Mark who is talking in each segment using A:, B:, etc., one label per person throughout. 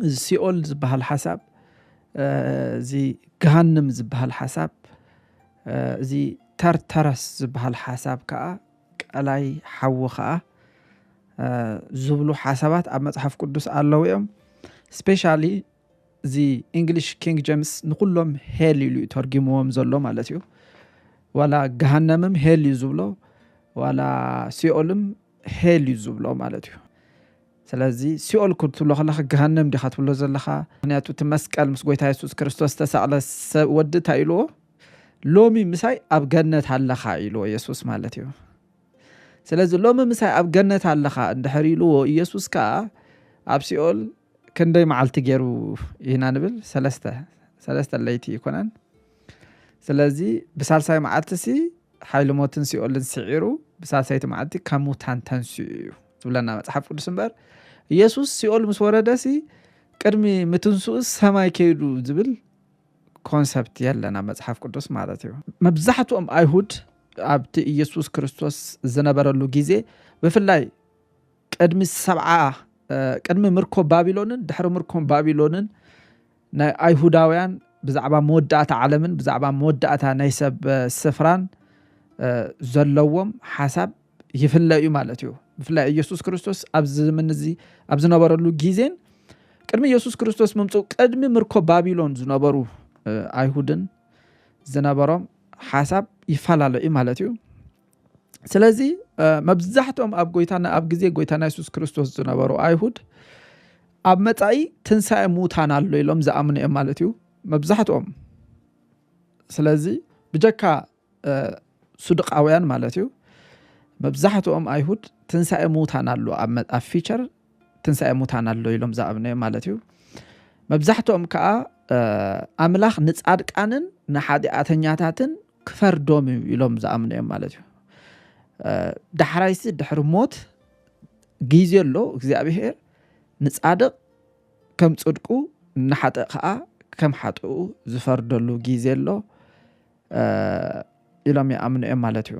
A: እዚ ሲኦል ዝበሃል ሓሳብ እዚ ገሃንም ዝበሃል ሓሳብ እዚ ተርተረስ ዝበሃል ሓሳብ ከዓ ቀላይ ሓዊ ከዓ ዝብሉ ሓሳባት ኣብ መፅሓፍ ቅዱስ ኣለዉ እዮም ስፔሻሊ እዚ እንግሊሽ ኪንግ ጀምስ ንኩሎም ሄል ኢሉ እዩ ተርጊምዎም ዘሎ ማለት እዩ ዋላ ገሃነምም ሄል እዩ ዝብሎ ዋላ ሲኦልም ሄል እዩ ዝብሎ ማለት እዩ ስለዚ ሲኦል ክትብሎ ከለካ ገሃነም ዲካ ትብሎ ዘለካ ምክንያቱ እቲ መስቀል ምስ ጎይታ የሱስ ክርስቶስ ዝተሳቅለ ሰብ ወዲ እንታይ ኢልዎ ሎሚ ምሳይ ኣብ ገነት ኣለካ ኢልዎ የሱስ ማለት እዩ ስለዚ ሎሚ ምሳይ ኣብ ገነት ኣለካ እንድሕር ኢልዎ ኢየሱስ ከዓ ኣብ ሲኦል ክንደይ መዓልቲ ገይሩ ኢና ንብል ሰለስተ ሰለስተ ለይቲ ይኮነን ስለዚ ብሳልሳይ መዓልቲ ሲ ሓይሊ ሞትን ሲኦልን ስዒሩ ብሳልሳይቲ መዓልቲ ካብ ሙታን ተንስኡ እዩ ዝብለና መፅሓፍ ቅዱስ እምበር ኢየሱስ ሲኦል ምስ ወረደ ሲ ቅድሚ ምትንስኡ ሰማይ ከይዱ ዝብል ኮንሰፕት የለን ኣብ መፅሓፍ ቅዱስ ማለት እዩ መብዛሕትኦም ኣይሁድ ኣብቲ ኢየሱስ ክርስቶስ ዝነበረሉ ግዜ ብፍላይ ቅድሚ ሰብዓ ቅድሚ ምርኮ ባቢሎንን ድሕሪ ምርኮ ባቢሎንን ናይ ኣይሁዳውያን ብዛዕባ መወዳእታ ዓለምን ብዛዕባ መወዳእታ ናይ ሰብ ስፍራን ዘለዎም ሓሳብ ይፍለ እዩ ማለት እዩ ብፍላይ ኢየሱስ ክርስቶስ ኣብዚ ዘመን እዚ ኣብ ዝነበረሉ ግዜን ቅድሚ ኢየሱስ ክርስቶስ ምምፅኡ ቅድሚ ምርኮ ባቢሎን ዝነበሩ ኣይሁድን ዝነበሮም ሓሳብ ይፈላለ እዩ ማለት እዩ ስለዚ መብዛሕትኦም ኣብ ጎይታና ኣብ ግዜ ጎይታና የሱስ ክርስቶስ ዝነበሩ ኣይሁድ ኣብ መጻኢ ትንሳኤ ምዉታን ኣሎ ኢሎም ዝኣምኑ እዮም ማለት እዩ መብዛሕትኦም ስለዚ ብጀካ ሱድቃውያን ማለት እዩ መብዛሕትኦም ኣይሁድ ትንሳኤ ምዉታን ኣሎ ኣብ ፊቸር ትንሳኤ ምዉታን ኣሎ ኢሎም ዝኣምኑ እዮም ማለት እዩ መብዛሕትኦም ከዓ ኣምላኽ ንጻድቃንን ንሓጢኣተኛታትን ክፈርዶም እዩ ኢሎም ዝኣምኑ እዮም ማለት እዩ ዳሕራይሲ ድሕሪ ሞት ግዜ ኣሎ እግዚኣብሄር ንፃድቕ ከም ፅድቁ ንሓጥእ ከዓ ከም ሓጥኡ ዝፈርደሉ ግዜ ኣሎ ኢሎም ይኣምኑ እዮም ማለት እዩ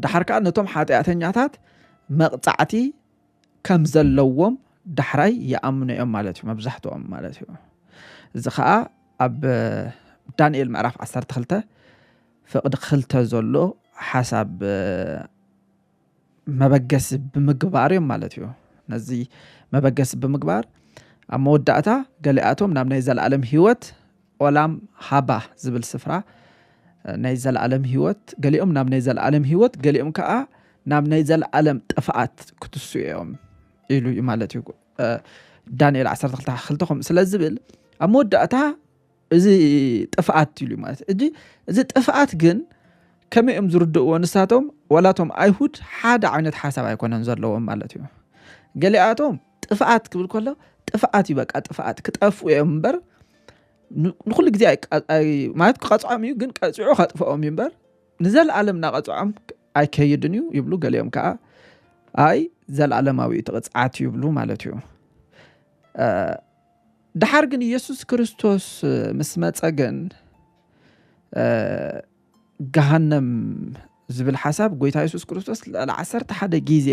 A: ዳሓር ከዓ ነቶም ሓጢኣተኛታት መቕፃዕቲ ከም ዘለዎም ዳሕራይ ይኣምኑ እዮም ማለት እዩ መብዛሕትኦም ማለት እዩ እዚ ከዓ ኣብ ዳንኤል ምዕራፍ 12 ፍቕዲ ክልተ ዘሎ ሓሳብ መበገሲ ብምግባር እዮም ማለት እዩ ነዚ መበገሲ ብምግባር ኣብ መወዳእታ ገሊኣቶም ናብ ናይ ዘለኣለም ህይወት ኦላም ሃባህ ዝብል ስፍራ ናይ ዘለኣለም ህይወት ገሊኦም ናብ ናይ ዘለኣለም ህይወት ገሊኦም ከዓ ናብ ናይ ዘለኣለም ጥፍኣት ክትስኡ እዮም ኢሉ እዩ ማለት እዩ ዳንኤል 12 ክልተ ከምኡ ስለ ዝብል ኣብ መወዳእታ እዚ ጥፍኣት ኢሉ እዩ ማለት እጂ እዚ ጥፍኣት ግን ከመይ እዮም ዝርድእዎ ንሳቶም ዋላቶም ኣይሁድ ሓደ ዓይነት ሓሳብ ኣይኮነን ዘለዎም ማለት እዩ ገሊኣቶም ጥፍኣት ክብል ከሎ ጥፍኣት እዩ በቃ ጥፍኣት ክጠፍኡ እዮም እምበር ንኩሉ ግዜ ማለት ክቐፅዖም እዩ ግን ቀፂዑ ከጥፍኦም እዩ እምበር ንዘለኣለም እናቐፅዖም ኣይከይድን እዩ ይብሉ ገሊኦም ከዓ ኣይ ዘለኣለማዊ እቲ ቅፅዓት ይብሉ ማለት እዩ ድሓር ግን ኢየሱስ ክርስቶስ ምስ መፀ ግን ገሃነም ዝብል ሓሳብ ጎይታ የሱስ ክርስቶስ ልዕሊ ዓሰርተ ሓደ ግዜ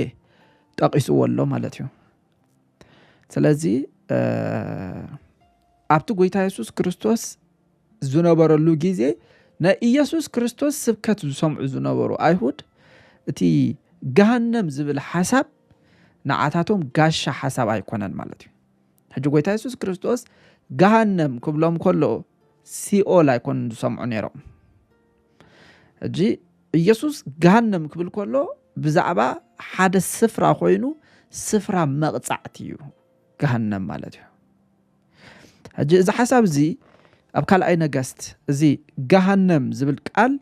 A: ጠቒስዎ ኣሎ ማለት እዩ ስለዚ ኣብቲ ጎይታ የሱስ ክርስቶስ ዝነበረሉ ግዜ ናይ ኢየሱስ ክርስቶስ ስብከት ዝሰምዑ ዝነበሩ ኣይሁድ እቲ ገሃነም ዝብል ሓሳብ ንዓታቶም ጋሻ ሓሳብ ኣይኮነን ማለት እዩ ሕጂ ጎይታ የሱስ ክርስቶስ ገሃነም ክብሎም ከሎ ሲኦል ኣይኮኑን ዝሰምዑ ነይሮም። ሕጂ ኢየሱስ ገሃነም ክብል ከሎ ብዛዕባ ሓደ ስፍራ ኮይኑ ስፍራ መቕጻዕቲ እዩ ገሃነም ማለት እዩ። ሕጂ እዚ ሓሳብ እዚ ኣብ ካልኣይ ነገስት እዚ ገሃነም ዝብል ቃል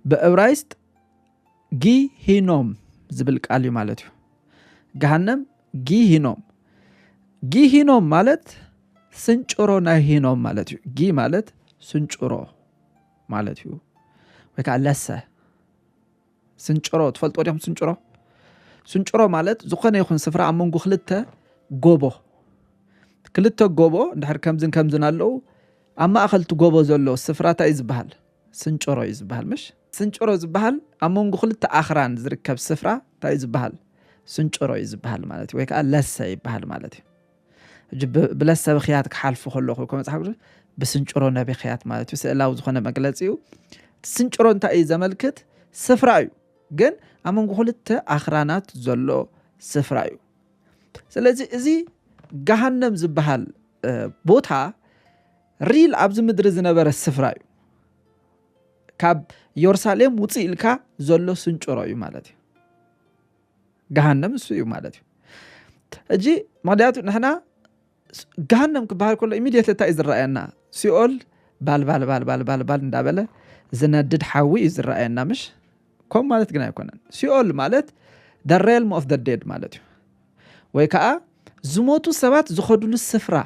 A: ብእብራይስጥ ጊሂኖም ዝብል ቃል እዩ ማለት እዩ ገሃነም ጊሂኖም ጊሂኖም ማለት ስንጭሮ ናይ ሂኖም ማለት እዩ ጊ ማለት ስንጭሮ ማለት እዩ ወይ ከዓ ለሰ ስንጭሮ ትፈልጦ ዲኹም ስንጭሮ ስንጭሮ ማለት ዝኾነ ይኹን ስፍራ ኣብ መንጎ ክልተ ጎቦ ክልተ ጎቦ እንድሕር ከምዝን ከምዝን ኣለዉ ኣብ ማእኸልቲ ጎቦ ዘሎ ስፍራ እንታይ እዩ ዝበሃል ስንጭሮ እዩ ዝብሃል ምሽ? ስንጭሮ ዝብሃል ኣብ መንጎ ክልተ ኣኽራን ዝርከብ ስፍራ እንታይ እዩ ዝብሃል? ስንጭሮ እዩ ዝብሃል ማለት እዩ። ወይ ከዓ ለሰ ይብሃል ማለት እዩ። ሕጂ ብለሰ ብክያት ክሓልፉ ከለኹ ከመፅሓፍ ቅዱስ ብስንጭሮ ነቢክያት ማለት እዩ። ስእላዊ ዝኾነ መግለፂ እዩ። ስንጭሮ እንታይ እዩ ዘመልክት? ስፍራ እዩ። ግን ኣብ መንጎ ክልተ ኣኽራናት ዘሎ ስፍራ እዩ። ስለዚ እዚ ገሃነም ዝበሃል ቦታ ሪል ኣብዚ ምድሪ ዝነበረ ስፍራ እዩ ካብ ዮርሳሌም ውፅ ኢልካ ዘሎ ስንጭሮ እዩ ማለት እዩ ገሃነም እሱ እዩ ማለት እዩ እጂ ምክንያቱ ንሕና ገሃነም ክበሃል ከሎ ኢሚድየት እንታይ እዩ ዝረኣየና ሲኦል ባልባልባልባልባልባል እንዳበለ ዝነድድ ሓዊ እዩ ዝረኣየና ምሽ ከምኡ ማለት ግን ኣይኮነን ሲኦል ማለት ደ ሬልም ኦፍ ደ ዴድ ማለት እዩ ወይ ከዓ ዝሞቱ ሰባት ዝኸዱሉ ስፍራ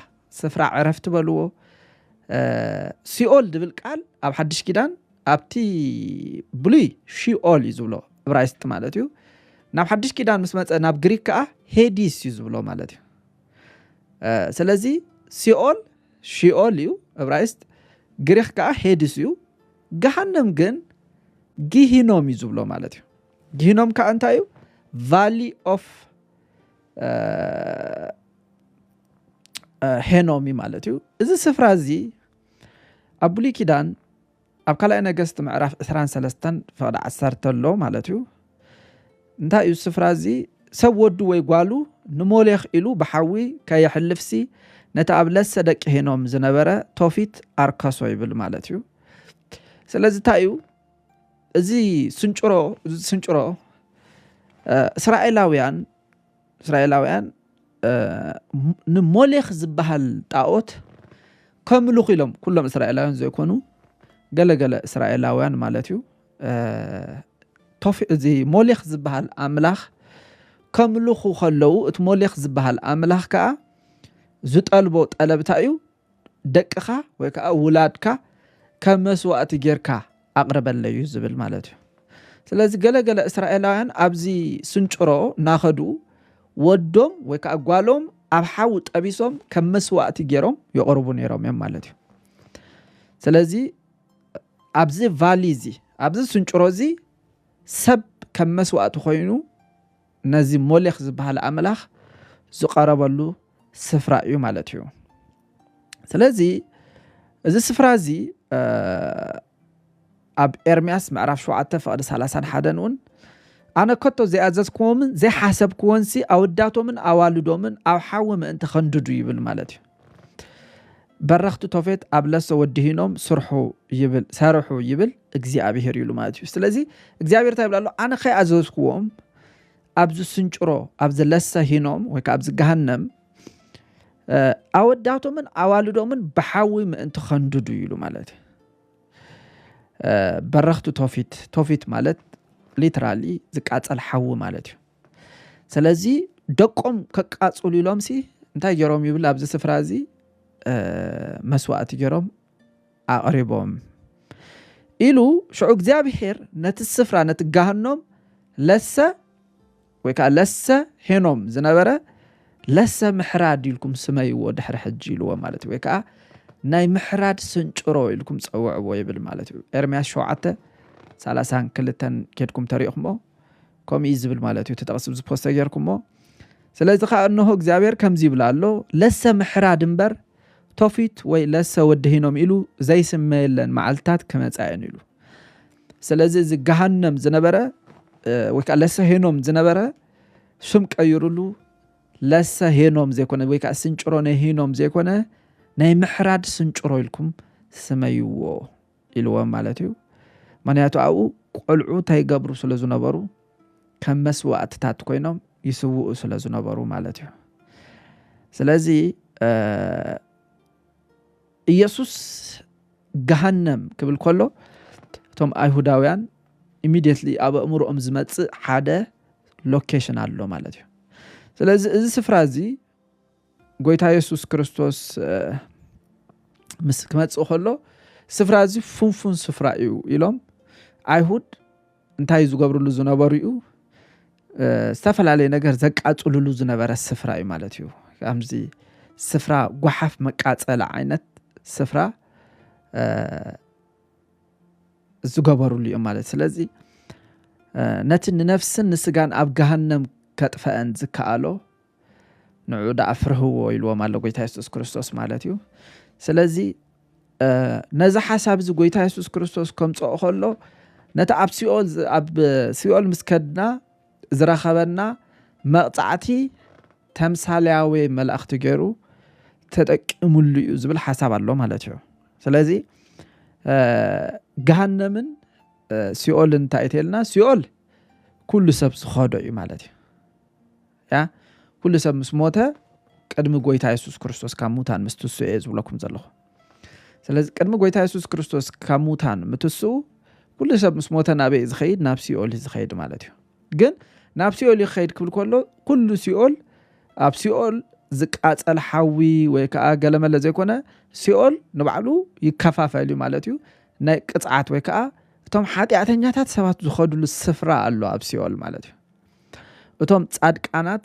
A: ስፍራ ዕረፍቲ በልዎ ሲኦል ዝብል ቃል ኣብ ሓድሽ ኪዳን ኣብቲ ብሉይ ሺኦል እዩ ዝብሎ እብራይስጥ ማለት እዩ ናብ ሓድሽ ኪዳን ምስ መፀ ናብ ግሪክ ከዓ ሄዲስ እዩ ዝብሎ ማለት እዩ ስለዚ ሲኦል ሺኦል እዩ እብራይስጥ ግሪክ ከዓ ሄዲስ እዩ ገሃንም ግን ጊሂኖም እዩ ዝብሎ ማለት እዩ ጊሂኖም ከዓ እንታይ እዩ ቫሊ ኦፍ ሄኖም እዩ ማለት እዩ እዚ ስፍራ እዚ ኣብ ብሉይ ኪዳን ኣብ ካልኣይ ነገስቲ ምዕራፍ 23 ፍቕዲ 1 ኣሎ ማለት እዩ እንታይ እዩ ስፍራ እዚ ሰብ ወዱ ወይ ጓሉ ንሞሌኽ ኢሉ ብሓዊ ከየሕልፍሲ ነቲ ኣብ ለሰ ደቂ ሄኖም ዝነበረ ቶፊት ኣርከሶ ይብል ማለት እዩ ስለዚ እንታይ እዩ እዚ ስንጭሮ ስንጭሮ እስራኤላውያን እስራኤላውያን ንሞሌኽ ዝበሃል ጣኦት ከምልኹ ኢሎም ኩሎም እስራኤላውያን ዘይኮኑ ገለገለ እስራኤላውያን ማለት እዩ ቶፊ እዚ ሞሌኽ ዝበሃል ኣምላኽ ከምልኹ ከለዉ እቲ ሞሌኽ ዝበሃል ኣምላኽ ከዓ ዝጠልቦ ጠለብታ እዩ ደቅኻ ወይ ከዓ ውላድካ ከም መስዋእቲ ጌርካ ኣቕርበለዩ ዝብል ማለት እዩ ስለዚ ገለገለ እስራኤላውያን ኣብዚ ስንጭሮ እናኸዱ ወዶም ወይ ከዓ ጓሎም ኣብ ሓዊ ጠቢሶም ከም መስዋእቲ ገይሮም ይቕርቡ ነይሮም እዮም ማለት እዩ ስለዚ ኣብዚ ቫሊ እዚ ኣብዚ ስንጭሮ እዚ ሰብ ከም መስዋእቲ ኮይኑ ነዚ ሞሌኽ ዝበሃል ኣምላኽ ዝቐረበሉ ስፍራ እዩ ማለት እዩ ስለዚ እዚ ስፍራ እዚ ኣብ ኤርምያስ ምዕራፍ 7 ፍቕዲ 31 እውን ኣነ ከቶ ዘይኣዘዝክዎምን ዘይሓሰብክዎንሲ ኣወዳቶምን ኣዋልዶምን ኣብ ሓዊ ምእንቲ ከንድዱ ይብል ማለት እዩ በረኽቲ ቶፌት ኣብ ለሶ ወዲሂኖም ስርሑ ይብል ሰርሑ ይብል እግዚኣብሄር ይሉ ማለት እዩ ስለዚ እግዚኣብሄር እንታይ ይብል ኣሎ ኣነ ከይኣዘዝኩዎም ኣብዚ ስንጭሮ ኣብዚ ለሰ ሂኖም ወይ ከዓ ኣብዚ ገሃነም ኣወዳቶምን ኣዋልዶምን ብሓዊ ምእንቲ ከንድዱ ይሉ ማለት እዩ በረኽቲ ቶፊት ቶፊት ማለት ሊትራሊ ዝቃፀል ሓዊ ማለት እዩ ስለዚ ደቆም ከቃጽሉ ኢሎም ሲ እንታይ ገይሮም ይብል ኣብዚ ስፍራ እዚ መስዋእቲ ገይሮም ኣቕሪቦም ኢሉ ሽዑ እግዚኣብሄር ነቲ ስፍራ ነቲ ጋህኖም ለሰ ወይ ከዓ ለሰ ሄኖም ዝነበረ ለሰ ምሕራድ ኢልኩም ስመይዎ ድሕሪ ሕጂ ኢልዎ ማለት እዩ ወይ ከዓ ናይ ምሕራድ ስንጭሮ ኢልኩም ፀውዕዎ ይብል ማለት እዩ ኤርምያስ ሸውዓተ ሳላሳን ክልተን ኬድኩም ተሪእኹሞ ከምኡ እዩ ዝብል ማለት እዩ እቲ ጥቕሲ እዚ ፖስተ ጌርኩሞ ስለዚ ከዓ እነሆ እግዚኣብሔር ከምዚ ይብል ኣሎ ለሰ ምሕራድ እምበር ቶፊት ወይ ለሰ ወድሂኖም ኢሉ ዘይስመየለን መዓልትታት ክመፃየን ኢሉ ስለዚ እዚ ገሃነም ዝነበረ ወይ ከዓ ለሰ ሄኖም ዝነበረ ሽም ቀይሩሉ ለሰ ሄኖም ዘይኮነ ወይ ከዓ ስንጭሮ ነሂኖም ዘይኮነ ናይ ምሕራድ ስንጭሮ ኢልኩም ስመይዎ ኢልዎም ማለት እዩ ምክንያቱ ኣብኡ ቆልዑ ታይ ገብሩ ስለ ዝነበሩ ከም መስዋእትታት ኮይኖም ይስውኡ ስለ ዝነበሩ ማለት እዩ ስለዚ ኢየሱስ ገሃነም ክብል ከሎ እቶም ኣይሁዳውያን ኢሚድየትሊ ኣብ ኣእምሮኦም ዝመፅእ ሓደ ሎኬሽን ኣሎ ማለት እዩ ስለዚ እዚ ስፍራ እዚ ጎይታ የሱስ ክርስቶስ ምስ ክመፅእ ከሎ ስፍራ እዚ ፍንፉን ስፍራ እዩ ኢሎም ኣይሁድ እንታይ ዝገብርሉ ዝነበሩ እዩ ዝተፈላለየ ነገር ዘቃፅልሉ ዝነበረ ስፍራ እዩ ማለት እዩ ከምዚ ስፍራ ጓሓፍ መቃፀሊ ዓይነት ስፍራ ዝገበርሉ እዮም ማለት ስለዚ ነቲ ንነፍስን ንስጋን ኣብ ገሃነም ከጥፈአን ዝከኣሎ ንዑ ደኣ ፍርህዎ ኢልዎም ኣሎ ጎይታ የሱስ ክርስቶስ ማለት እዩ ስለዚ ነዚ ሓሳብ እዚ ጎይታ የሱስ ክርስቶስ ከምፅኦ ከሎ ነቲ ኣብ ሲኦል ኣብ ሲኦል ምስ ከድና ዝረኸበና መቕፃዕቲ ተምሳሌያዊ መላእኽቲ ገይሩ ተጠቂሙሉ እዩ ዝብል ሓሳብ ኣሎ ማለት እዩ ስለዚ ገሃነምን ሲኦልን እንታይ እተልና ሲኦል ኩሉ ሰብ ዝኸዶ እዩ ማለት እዩ ያ ኩሉ ሰብ ምስ ሞተ ቅድሚ ጎይታ የሱስ ክርስቶስ ካብ ሙታን ምስ ትስኡ እየ ዝብለኩም ዘለኹ ስለዚ ቅድሚ ጎይታ የሱስ ክርስቶስ ካብ ሙታን ምትስኡ ኩሉ ሰብ ምስ ሞተ ናበይ እዩ ዝኸይድ ናብ ሲኦል እዩ ዝኸይድ ማለት እዩ ግን ናብ ሲኦል እዩ ክኸይድ ክብል ከሎ ኩሉ ሲኦል ኣብ ሲኦል ዝቃፀል ሓዊ ወይ ከዓ ገለመለ ዘይኮነ ሲኦል ንባዕሉ ይከፋፈል እዩ ማለት እዩ ናይ ቅፅዓት ወይ ከዓ እቶም ሓጢኣተኛታት ሰባት ዝኸድሉ ስፍራ ኣሎ ኣብ ሲኦል ማለት እዩ እቶም ጻድቃናት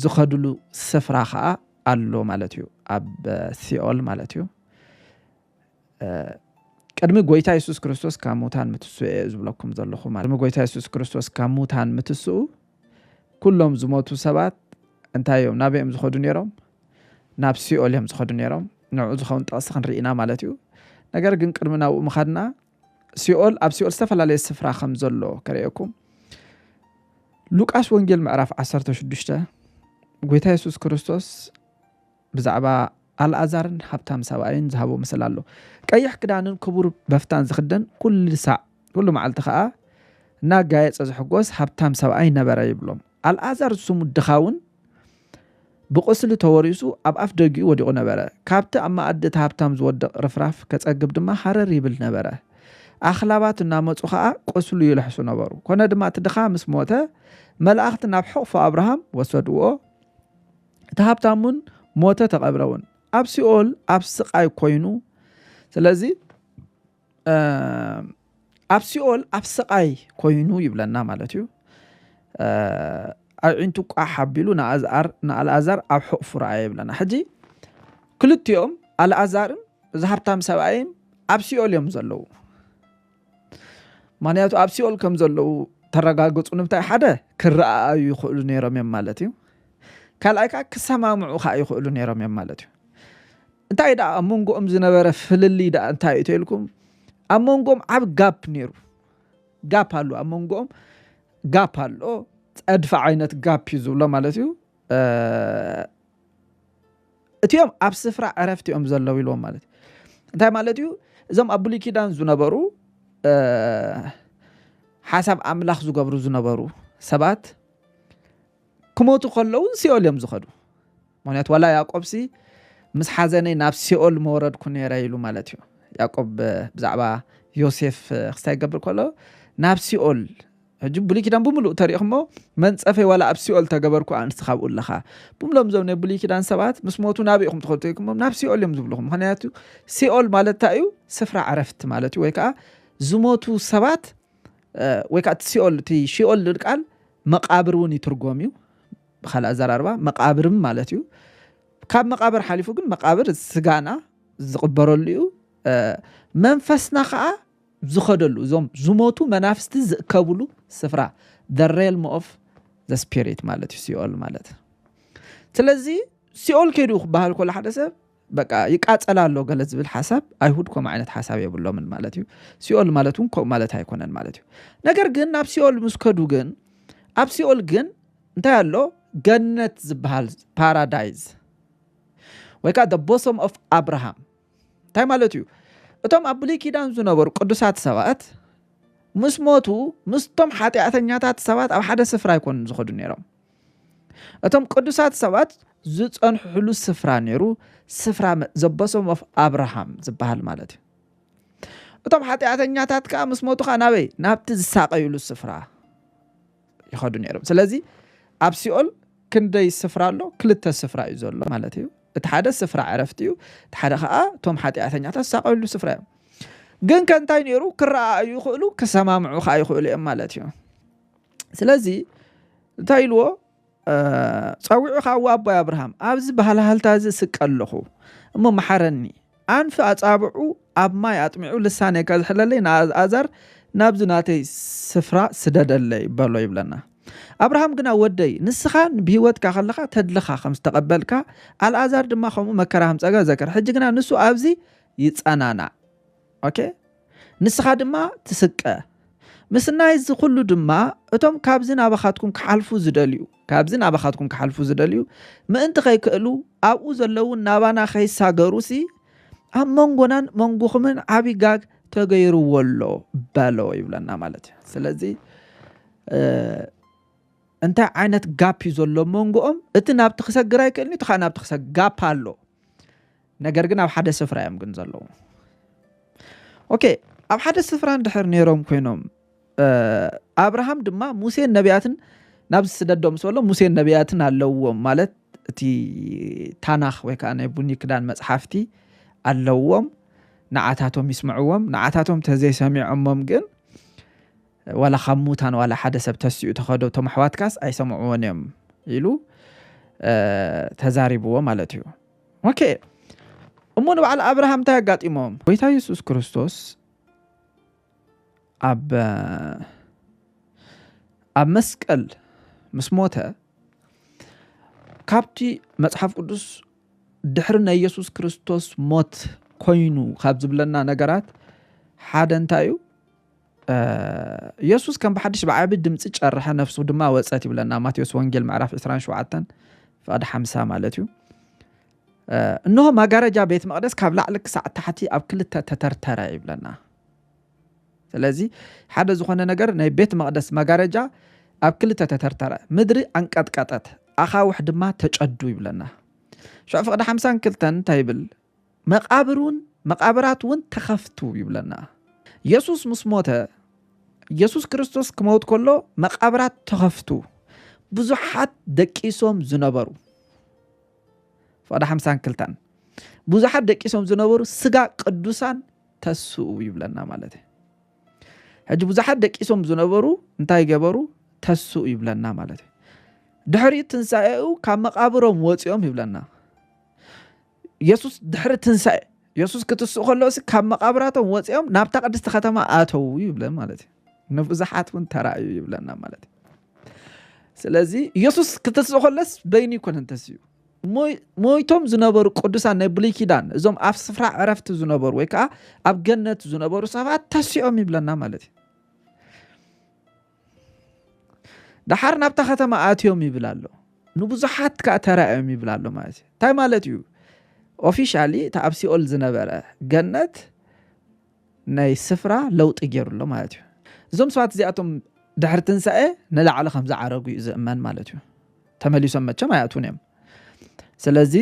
A: ዝኸድሉ ስፍራ ኸኣ ኣሎ ማለት እዩ ኣብ ሲኦል ማለት እዩ ቅድሚ ጎይታ የሱስ ክርስቶስ ካብ ሙታን ምትስኡ እየ ዝብለኩም ዘለኹ ማለት ቅድሚ ጎይታ የሱስ ክርስቶስ ካብ ሙታን ምትስኡ ኩሎም ዝሞቱ ሰባት እንታይ እዮም ናበይ እዮም ዝኸዱ ነይሮም ናብ ሲኦል እዮም ዝኸዱ ነይሮም ንዕኡ ዝኸውን ጥቕሲ ክንርኢ ኢና ማለት እዩ ነገር ግን ቅድሚ ናብኡ ምኻድና ሲኦል ኣብ ሲኦል ዝተፈላለየ ስፍራ ከም ዘሎ ከርእየኩም ሉቃስ ወንጌል ምዕራፍ 16 ጎይታ የሱስ ክርስቶስ ብዛዕባ ኣልኣዛርን ሃብታም ሰብኣይን ዝሃቦ ምስል ኣሎ ቀይሕ ክዳንን ክቡር በፍታን ዝኽደን ኩሉ ሳዕ ኩሉ መዓልቲ ከዓ እናጋየፀ ዝሕጎስ ሃብታም ሰብኣይ ነበረ ይብሎም ኣልኣዛር ዝስሙ ድኻውን ብቝስሊ ተወሪሱ ኣብ ኣፍ ደጊኡ ወዲቑ ነበረ። ካብቲ ኣብ መኣዲ እቲ ሃብታም ዝወድቕ ርፍራፍ ኬጸግብ ድማ ሃረር ይብል ነበረ። ኣኽላባት እናመጹ ኸኣ ቍስሉ ይልሕሱ ነበሩ። ኰነ ድማ እቲ ድኻ ምስ ሞተ፣ መላእኽቲ ናብ ሕቝፎ ኣብርሃም ወሰድዎ፣ እቲ ሃብታም እውን ሞተ ተቐብረ እውን። ኣብ ሲኦል ኣብ ስቓይ ኰይኑ ስለዚ፣ ኣብ ሲኦል ኣብ ስቓይ ኮይኑ ይብለና ማለት እዩ ኣዒንቱ ቋሕ ኣቢሉ ንኣልኣዛር ኣብ ሕቑፉ ረኣየ ይብለና ሕጂ ክልቲኦም ኣልኣዛርን እዚ ሃብታም ሰብኣይን ኣብ ሲኦል እዮም ዘለዉ ምክንያቱ ኣብ ሲኦል ከም ዘለዉ ተረጋግፁ ንምታይ ሓደ ክረኣኣዩ ይኽእሉ ነይሮም እዮም ማለት እዩ ካልኣይ ከዓ ክሰማምዑ ከዓ ይኽእሉ ነይሮም እዮም ማለት እዩ እንታይ ደኣ ኣብ መንጎኦም ዝነበረ ፍልልይ ደኣ እንታይ እዩ ተልኩም ኣብ መንጎኦም ዓብ ጋፕ ነይሩ ጋፕ ኣሎ ኣብ መንጎኦም ጋፕ ኣሎ ፀድፊ ዓይነት ጋፕ እዩ ዝብሎ ማለት እዩ እቲኦም ኣብ ስፍራ ዕረፍቲ እዮም ዘለዉ ኢልዎም ማለት እዩ እንታይ ማለት እዩ እዞም ኣብ ብሉይ ኪዳን ዝነበሩ ሓሳብ ኣምላኽ ዝገብሩ ዝነበሩ ሰባት ክሞቱ ከለዉ ሲኦል እዮም ዝኸዱ ምክንያቱ ዋላ ያቆብሲ ምስ ሓዘነይ ናብ ሲኦል መወረድኩ ነረ ኢሉ ማለት እዩ ያቆብ ብዛዕባ ዮሴፍ ክስታይ ይገብር ከሎ ናብ ሲኦል ሕጂ ብሉይ ኪዳን ብምሉእ ተሪእኹሞ መንፀፈይ ዋላ ኣብ ሲኦል ተገበርኩ ኣንስቲ ካብኡ ኣለኻ ብምሎም እዞም ናይ ብሉይ ኪዳን ሰባት ምስ ሞቱ ናብ ኢኹም ትኸዱ ተይኩሞም ናብ ሲኦል እዮም ዝብልኹም ምክንያቱ ሲኦል ማለት እንታይ እዩ ስፍራ ዕረፍቲ ማለት እዩ ወይ ከዓ ዝሞቱ ሰባት ወይ ከዓ እቲ ሲኦል እቲ ሺኦል ዝብል ቃል መቃብር እውን ይትርጎም እዩ ብካልእ ኣዘራርባ መቃብርም ማለት እዩ ካብ መቃብር ሓሊፉ ግን መቃብር ስጋና ዝቕበረሉ እዩ መንፈስና ከዓ ዝኸደሉ እዞም ዝሞቱ መናፍስቲ ዝእከብሉ ስፍራ the realm of the spirit ማለት እዩ ሲኦል ማለት ስለዚ ሲኦል ከይዱ ክበሃል ከሎ ሓደ ሰብ በቃ ይቃጸል ኣሎ ገለ ዝብል ሓሳብ ኣይሁድ ከምኡ ዓይነት ሓሳብ የብሎምን ማለት እዩ ሲኦል ማለት እውን ከምኡ ማለት ኣይኮነን ማለት እዩ ነገር ግን ናብ ሲኦል ምስ ከዱ ግን ኣብ ሲኦል ግን እንታይ ኣሎ ገነት ዝበሃል ፓራዳይዝ ወይ ከዓ ቦሶም ኦፍ ኣብርሃም እንታይ ማለት እዩ እቶም ኣብ ብሉይ ኪዳን ዝነበሩ ቅዱሳት ሰባት ምስ ሞቱ ምስቶም ሓጢኣተኛታት ሰባት ኣብ ሓደ ስፍራ ኣይኮኑን ዝኸዱ ነይሮም እቶም ቅዱሳት ሰባት ዝፀንሕሉ ስፍራ ነይሩ ስፍራ ዘበሶም ኦፍ ኣብርሃም ዝበሃል ማለት እዩ እቶም ሓጢኣተኛታት ከዓ ምስ ሞቱ ከዓ ናበይ ናብቲ ዝሳቀዩሉ ስፍራ ይኸዱ ነይሮም ስለዚ ኣብ ሲኦል ክንደይ ስፍራ ኣሎ ክልተ ስፍራ እዩ ዘሎ ማለት እዩ እቲ ሓደ ስፍራ ዕረፍቲ እዩ እቲ ሓደ ከዓ እቶም ሓጢኣተኛታት ዝሳቀዩሉ ስፍራ እዮም ግን ከእንታይ ነይሩ ክረኣዩ ይኽእሉ ክሰማምዑ ከዓ ይኽእሉ እዮም ማለት እዩ ስለዚ እንታይ ኢልዎ ጸዊዑ ካዋ ኣቦይ ኣብርሃም ኣብዚ ባህልሃልታ እዚ ስቀ ኣለኹ እሞ መሓረኒ ኣንፊ ኣጻብዑ ኣብ ማይ ኣጥሚዑ ልሳነይ ከዝሕለለይ ንኣልኣዛር ናብዚ ናተይ ስፍራ ስደደለይ በሎ ይብለና ኣብርሃም ግና ወደይ ንስኻ ብሂወትካ ከለኻ ተድልኻ ከም ዝተቐበልካ ኣልኣዛር ድማ ከምኡ መከራ ከም ጸጋ ዘከር ሕጂ ግና ንሱ ኣብዚ ይጸናናዕ ኦኬ ንስኻ ድማ ትስቀ ምስናይ እዚ ኩሉ ድማ እቶም ካብዚ ናባኻትኩም ክሓልፉ ዝደልዩ ካብዚ ናባኻትኩም ክሓልፉ ዝደልዩ ምእንቲ ከይክእሉ ኣብኡ ዘለዉ ናባና ከይሳገሩሲ ኣብ መንጎናን መንጎኹምን ዓብ ጋግ ተገይርዎ ኣሎ በሎ ይብለና ማለት እዩ ስለዚ እንታይ ዓይነት ጋፕ እዩ ዘሎ መንጎኦም እቲ ናብቲ ክሰግር ኣይክእልኒ እቲ ከዓ ናብቲ ክሰግ ጋፕ ኣሎ ነገር ግን ኣብ ሓደ ስፍራ እዮም ግን ዘለዉ ኦኬ ኣብ ሓደ ስፍራ እንድሕር ነይሮም ኮይኖም ኣብርሃም ድማ ሙሴን ነቢያትን ናብ ዝስደዶም ስበሎ ሙሴን ነቢያትን ኣለዎም ማለት እቲ ታናኽ ወይ ከዓ ናይ ቡኒ ክዳን መፅሓፍቲ ኣለዎም ንዓታቶም ይስምዕዎም ንዓታቶም ተዘይሰሚዖሞም ግን ዋላ ካብ ሙታን ዋላ ሓደ ሰብ ተሲኡ ተኸዶ እቶም ኣሕዋትካስ ኣይሰምዕዎን እዮም ኢሉ ተዛሪብዎ ማለት እዩ ኦኬ እሞ ንበዓል ኣብርሃም እንታይ ኣጋጢሞም? ጎይታ የሱስ ክርስቶስ ኣብ ኣብ መስቀል ምስ ሞተ ካብቲ መጽሓፍ ቅዱስ ድሕሪ ናይ የሱስ ክርስቶስ ሞት ኮይኑ ካብ ዝብለና ነገራት ሓደ እንታይ እዩ? የሱስ ከም ብሓድሽ ብዓቢ ድምጺ ጨርሐ፣ ነፍሱ ድማ ወጸት ይብለና ማቴዎስ ወንጌል ምዕራፍ 27 ፍቐድ 50 ማለት እዩ። እንሆ መጋረጃ ቤት መቕደስ ካብ ላዕሊ ክሳዕ ታሕቲ ኣብ ክልተ ተተርተረ ይብለና። ስለዚ ሓደ ዝኾነ ነገር ናይ ቤት መቕደስ መጋረጃ ኣብ ክልተ ተተርተረ፣ ምድሪ ኣንቀጥቀጠት፣ ኣኻውሕ ድማ ተጨዱ ይብለና። ሽዑ ፍቕዲ ሓምሳን ክልተን እንታይ ይብል? መቓብር እውን መቓብራት እውን ተኸፍቱ ይብለና የሱስ ምስ ሞተ የሱስ ክርስቶስ ክመውት ከሎ መቓብራት ተኸፍቱ ብዙሓት ደቂሶም ዝነበሩ ፍቓድ ሓምሳን ክልታን ብዙሓት ደቂሶም ዝነበሩ ስጋ ቅዱሳን ተስኡ ይብለና ማለት እዩ ሕጂ ብዙሓት ደቂሶም ዝነበሩ እንታይ ገበሩ ተስኡ ይብለና ማለት እዩ ድሕሪ ትንሳኤኡ ካብ መቃብሮም ወፂኦም ይብለና የሱስ ድሕሪ ትንሳኤ የሱስ ክትስእ ከሎ ሲ ካብ መቓብራቶም ወፂኦም ናብታ ቅድስቲ ከተማ ኣተዉ ይብለን ማለት እዩ ንብዙሓት እውን ተራእዩ ይብለና ማለት እዩ ስለዚ የሱስ ክትስእ ከሎስ በይኑ ይኮነን ተስኡ ሞይቶም ዝነበሩ ቅዱሳን ናይ ብሉይ ኪዳን እዞም ኣብ ስፍራ ዕረፍቲ ዝነበሩ ወይ ከዓ ኣብ ገነት ዝነበሩ ሰባት ተሲኦም ይብለና ማለት እዩ ደሓር ናብታ ከተማ ኣትዮም ይብል ኣሎ ንብዙሓት ከዓ ተራእዮም ይብል ኣሎ ማለት እዩ እንታይ ማለት እዩ ኦፊሻሊ እቲ ኣብ ሲኦል ዝነበረ ገነት ናይ ስፍራ ለውጢ ገይሩ ኣሎ ማለት እዩ እዞም ሰባት እዚኣቶም ድሕሪ ትንሳኤ ንላዕሊ ከም ዝዓረጉ እዩ ዝእመን ማለት እዩ ተመሊሶም መቸም ኣይኣትዉን እዮም ስለዚ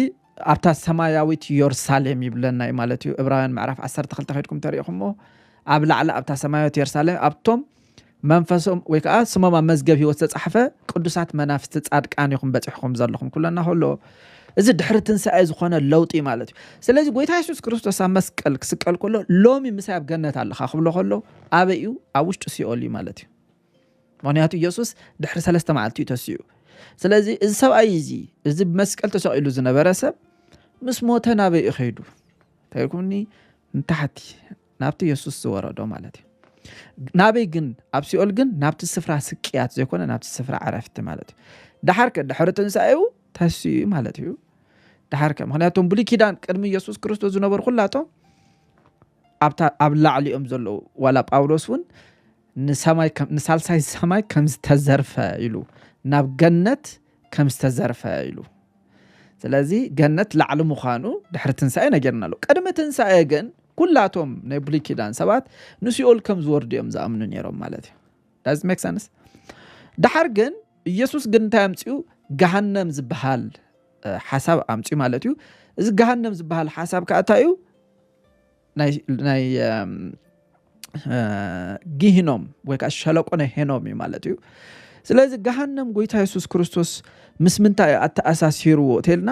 A: ኣብታ ሰማያዊት የሩሳሌም ይብለና እዩ ማለት እዩ እብራውያን ምዕራፍ 12 ከድኩም ተሪኢኹሞ ኣብ ላዕሊ ኣብታ ሰማያዊት የሩሳሌም ኣብቶም መንፈሶም ወይ ከዓ ስሞም ኣብ መዝገብ ህይወት ዝተፃሕፈ ቅዱሳት መናፍስቲ ፃድቃን ኢኹም በፂሕኹም ዘለኹም ኩለና ከሎ እዚ ድሕሪ ትንሳኤ ዝኾነ ለውጢ ማለት እዩ ስለዚ ጎይታ የሱስ ክርስቶስ ኣብ መስቀል ክስቀል ከሎ ሎሚ ምሳይ ኣብ ገነት ኣለኻ ክብሎ ከሎ ኣበይ እዩ ኣብ ውሽጢ ሲኦል እዩ ማለት እዩ ምኽንያቱ ኢየሱስ ድሕሪ ሰለስተ መዓልቲ እዩ ተሲኡ ስለዚ እዚ ሰብኣይ እዚ እዚ ብመስቀል ተሰቂሉ ዝነበረ ሰብ ምስ ሞተ ናበይ እዩ ከይዱ ተይኩኒ ንታሕቲ ናብቲ የሱስ ዝወረዶ ማለት እዩ ናበይ ግን ኣብ ሲኦል ግን ናብቲ ስፍራ ስቅያት ዘይኮነ ናብቲ ስፍራ ዕረፍቲ ማለት እዩ ድሓር ከ ድሕሪ ትንሳኤኡ ተስዩ ማለት እዩ ድሓር ከ ምክንያቱም ብሉይ ኪዳን ቅድሚ የሱስ ክርስቶስ ዝነበሩ ኩላቶም ኣብ ላዕሊኦም ዘለዉ ዋላ ጳውሎስ እውን ንሳልሳይ ሰማይ ከም ዝተዘርፈ ኢሉ ናብ ገነት ከም ዝተዘርፈ ኢሉ ስለዚ ገነት ላዕሊ ምዃኑ ድሕሪ ትንሳኤ ነገርና ኣሎ ቅድሚ ትንሳኤ ግን ኩላቶም ናይ ብሉይ ኪዳን ሰባት ንሲኦል ከም ዝወርዱ እዮም ዝኣምኑ ነይሮም ማለት እዩ ዳዝ ሜክ ሰንስ ድሓር ግን ኢየሱስ ግን እንታይ ኣምፅኡ ገሃነም ዝበሃል ሓሳብ ኣምፅኡ ማለት እዩ እዚ ገሃነም ዝበሃል ሓሳብ ከዓ እንታይ እዩ ናይ ጊህኖም ወይ ከዓ ሸለቆ ናይ ሄኖም እዩ ማለት እዩ ስለዚ ገሃነም ጎይታ የሱስ ክርስቶስ ምስ ምንታይ እዩ ኣተኣሳሲርዎ ተልና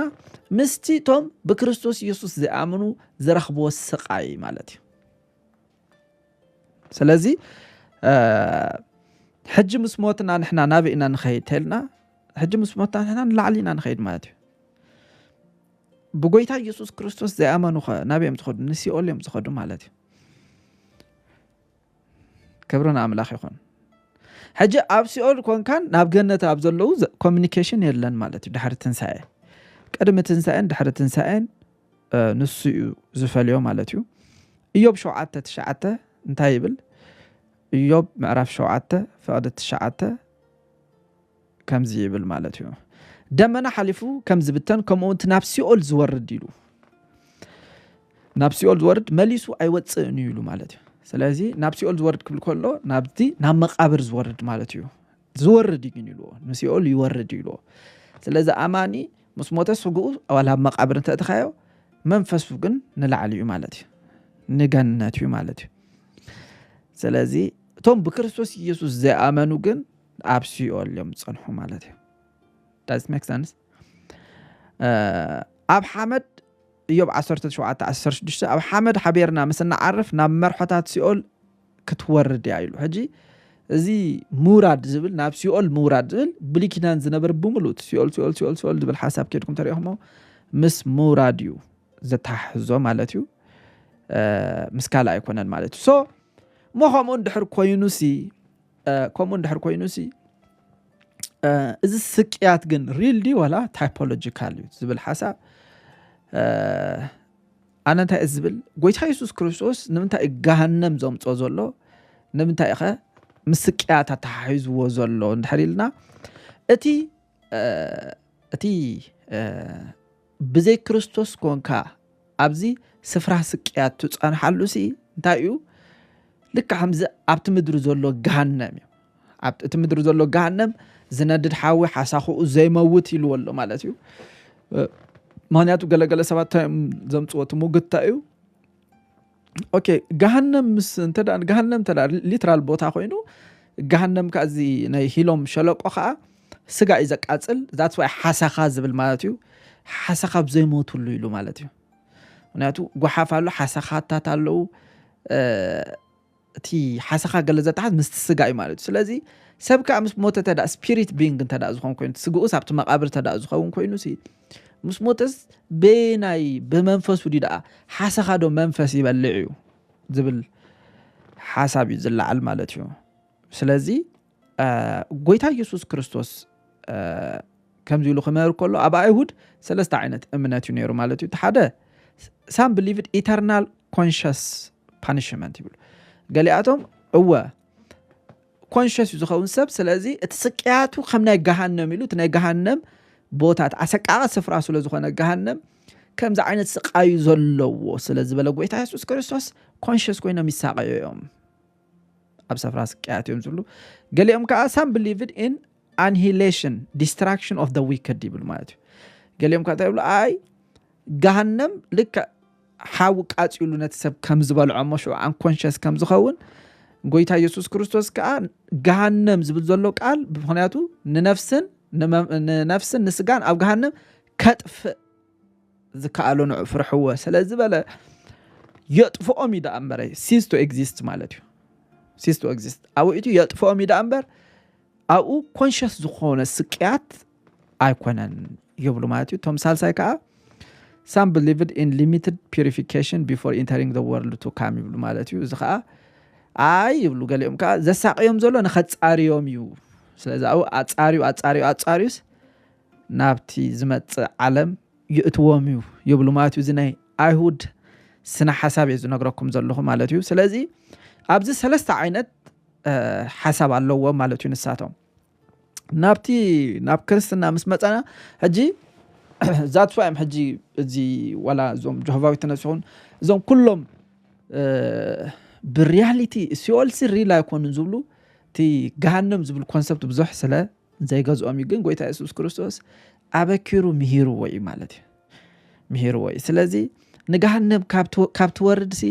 A: ምስቲ እቶም ብክርስቶስ የሱስ ዝኣምኑ ዝረኽብዎ ስቃይ ማለት እዩ ስለዚ ሕጂ ምስ ሞትና ንሕና ናበይ ኢና ንኸይድ ተልና ሕጂ ምስ ሞትና ንሕና ንላዕሊ ኢና ንኸይድ ማለት እዩ ብጎይታ ኢየሱስ ክርስቶስ ዘይኣመኑኸ ናብ እዮም ዝኸዱ ንሲኦል እዮም ዝኸዱ ማለት እዩ ክብሪ ንኣምላኽ ይኹን ሕጂ ኣብ ሲኦል ኮንካን ናብ ገነት ኣብ ዘለዉ ኮሚኒኬሽን የለን ማለት እዩ ድሕሪ ትንሳኤ ቅድሚ ትንሳኤን ድሕሪ ትንሳኤን ንሱ እዩ ዝፈልዮ ማለት እዩ እዮብ ሸውዓተ ትሽዓተ እንታይ ይብል እዮብ ምዕራፍ ሸውዓተ ፍቕዲ ትሽዓተ ከምዚ ይብል ማለት እዩ ደመና ሓሊፉ ከም ዝብተን ከምኡውን እቲ ናብ ሲኦል ዝወርድ ኢሉ ናብ ሲኦል ዝወርድ መሊሱ ኣይወፅእን እዩ ኢሉ ማለት እዩ ስለዚ ናብ ሲኦል ዝወርድ ክብል ከሎ ናብቲ ናብ መቃብር ዝወርድ ማለት እዩ ዝወርድ እዩ ግን ኢልዎ ንሲኦል ይወርድ እዩ ኢልዎ ስለዚ ኣማኒ ምስ ሞተ ስግኡ ዋላ ኣብ መቃብር እንተእትኻዮ መንፈሱ ግን ንላዕሊ እዩ ማለት እዩ ንገነት እዩ ማለት እዩ ስለዚ እቶም ብክርስቶስ ኢየሱስ ዘይኣመኑ ግን ኣብ ሲኦል እዮም ዝጸንሑ ማለት እዩ ዳዝ ሜክ ሰንስ ኣብ ሓመድ እዮብ 1716 ኣብ ሓመድ ሓቢርና ምስ እንዓርፍ ናብ መርሖታት ሲኦል ክትወርድ እያ ኢሉ ሕጂ እዚ ምውራድ ዝብል ናብ ሲኦል ምውራድ ዝብል ብሉይ ኪዳን ዝነበር ብምሉእ ሲኦል ሲኦል ሲኦል ሲኦል ዝብል ሓሳብ ኬድኩም ተሪኢኹሞ ምስ ምውራድ እዩ ዘተሓሕዞ ማለት እዩ ምስ ካልእ ኣይኮነን ማለት እዩ ሶ እሞ ከምኡ እንድሕር ኮይኑ ሲ ከምኡ እንድሕር ኮይኑ ሲ እዚ ስቅያት ግን ሪል ዲ ዋላ ታይፖሎጂካል እዩ ዝብል ሓሳብ ኣነ እንታይ እዩ ዝብል ጎይታ የሱስ ክርስቶስ ንምንታይ እዩ ገሃነም ዘምፆ ዘሎ ንምንታይ ኸ ምስቅያት ኣተሓሒዝዎ ዘሎ እንድሕር ኢልና እቲ እቲ ብዘይ ክርስቶስ ኮንካ ኣብዚ ስፍራ ስቅያት ትፀንሓሉ ሲ እንታይ እዩ ልክ ከምዚ ኣብቲ ምድሪ ዘሎ ገሃነም እዩ ኣብቲ ምድሪ ዘሎ ገሃነም ዝነድድ ሓዊ ሓሳኽኡ ዘይመውት ኢልዎ ኣሎ ማለት እዩ ምክንያቱ ገለገለ ሰባት እንታይ እዮም ዘምፅዎ እቲ ሙግታ እዩ ኦኬ ገሃነም ምስ እንተ ገሃነም እንተ ሊትራል ቦታ ኮይኑ ገሃነም ከዓ እዚ ናይ ሂሎም ሸለቆ ከዓ ስጋ እዩ ዘቃፅል ዛት ዋይ ሓሰኻ ዝብል ማለት እዩ ሓሰኻ ብዘይሞትሉ ኢሉ ማለት እዩ ምክንያቱ ጓሓፍ ኣሎ ሓሰኻታት ኣለዉ እቲ ሓሰኻ ገለ ዘተሓዝ ምስቲ ስጋ እዩ ማለት እዩ ስለዚ ሰብ ከዓ ምስ ሞተ ተዳ ስፒሪት ቢንግ እንተ ዝኾን ኮይኑ ስግኡስ ኣብቲ መቃብር ተዳ ዝኸውን ኮይኑ ምስ ሞተስ ብናይ ብመንፈሱ ድዩ ደኣ ሓሰኻዶ መንፈስ ይበልዕ እዩ ዝብል ሓሳብ እዩ ዝለዓል ማለት እዩ ስለዚ ጎይታ ኢየሱስ ክርስቶስ ከምዚ ኢሉ ክምህር ከሎ ኣብ ኣይሁድ ሰለስተ ዓይነት እምነት እዩ ነይሩ ማለት እዩ እቲ ሓደ ሳም ብሊቭድ ኢተርናል ኮንሽስ ፓኒሽመንት ይብሉ ገሊኣቶም እወ ኮንሸስ እዩ ዝኸውን ሰብ ስለዚ እቲ ስቅያቱ ከም ናይ ገሃነም ኢሉ እቲ ናይ ገሃነም ቦታት ኣሰቃቂ ስፍራ ስለ ዝኾነ ገሃነም ከምዚ ዓይነት ስቃዩ ዘለዎ ስለ ዝበለ ጎይታ የሱስ ክርስቶስ ኮንሽስ ኮይኖም ይሳቀዩ እዮም ኣብ ሰፍራ ስቅያት እዮም ዝብሉ ገሊኦም ከዓ ሳም ብሊቭድ ኢን ኣንሂሌሽን ዲስትራክሽን ኦፍ ዊክድ ይብል ማለት እዩ ገሊኦም ከዓ ይብሉ ኣይ ገሃነም ልክዕ ሓዊ ቃጺሉ ነቲ ሰብ ከም ዝበልዖ እሞ ሽዑ ኣንኮንሸስ ከም ዝኸውን ጎይታ ኢየሱስ ክርስቶስ ከዓ ገሃነም ዝብል ዘሎ ቃል ብምክንያቱ ንነፍስን ንነፍስን ንስጋን ኣብ ገሃነም ከጥፍእ ዝከኣሎ ንዑ ፍርሕዎ ስለ ዝበለ የጥፍኦም እዩ ደኣ እምበረ ሲስ ቱ ኤግዚስት ማለት እዩ ሲስ ቱ ኤግዚስት ኣብኡ የጥፍኦም እዩ ደኣ እምበር ኣብኡ ኮንሸስ ዝኾነ ስቅያት ኣይኮነን ይብሉ ማለት እዩ እቶም ሳልሳይ ከዓ ሳም ብሊቭድ ኢን ሊሚትድ ፒሪፊኬሽን ቢፎር ኢንተሪንግ ዘ ወርልድ ቱ ካም ይብሉ ማለት እዩ እዚ ከዓ ኣይ ይብሉ ገሊኦም ከዓ ዘሳቅዮም ዘሎ ንኸፃርዮም እዩ ስለዚ ኣብኡ ኣፃርዩ ኣፃርዩ ኣፃርዩስ ናብቲ ዝመፅእ ዓለም ይእትዎም እዩ ይብሉ ማለት እዩ እዚ ናይ ኣይሁድ ስነ ሓሳብ እየ ዝነግረኩም ዘለኹ ማለት እዩ ስለዚ ኣብዚ ሰለስተ ዓይነት ሓሳብ ኣለዎም ማለት እዩ ንሳቶም ናብቲ ናብ ክርስትና ምስ መጸና ሕጂ ዛትስ ዋይ ኣም ሕጂ እዚ ዋላ እዞም ጆሆቫ ዊትነስ ይኹን እዞም ኩሎም ብሪያሊቲ ሲኦልሲ ሪል ኣይኮኑን ዝብሉ እቲ ገሃንም ዝብል ኮንሰፕት ብዙሕ ስለ ዘይገዝኦም እዩ ግን ጎይታ የሱስ ክርስቶስ ኣበኪሩ ምሂርዎ እዩ ማለት እዩ ምሂርዎ እዩ ስለዚ ንገሃንም ካብ ትወርድሲ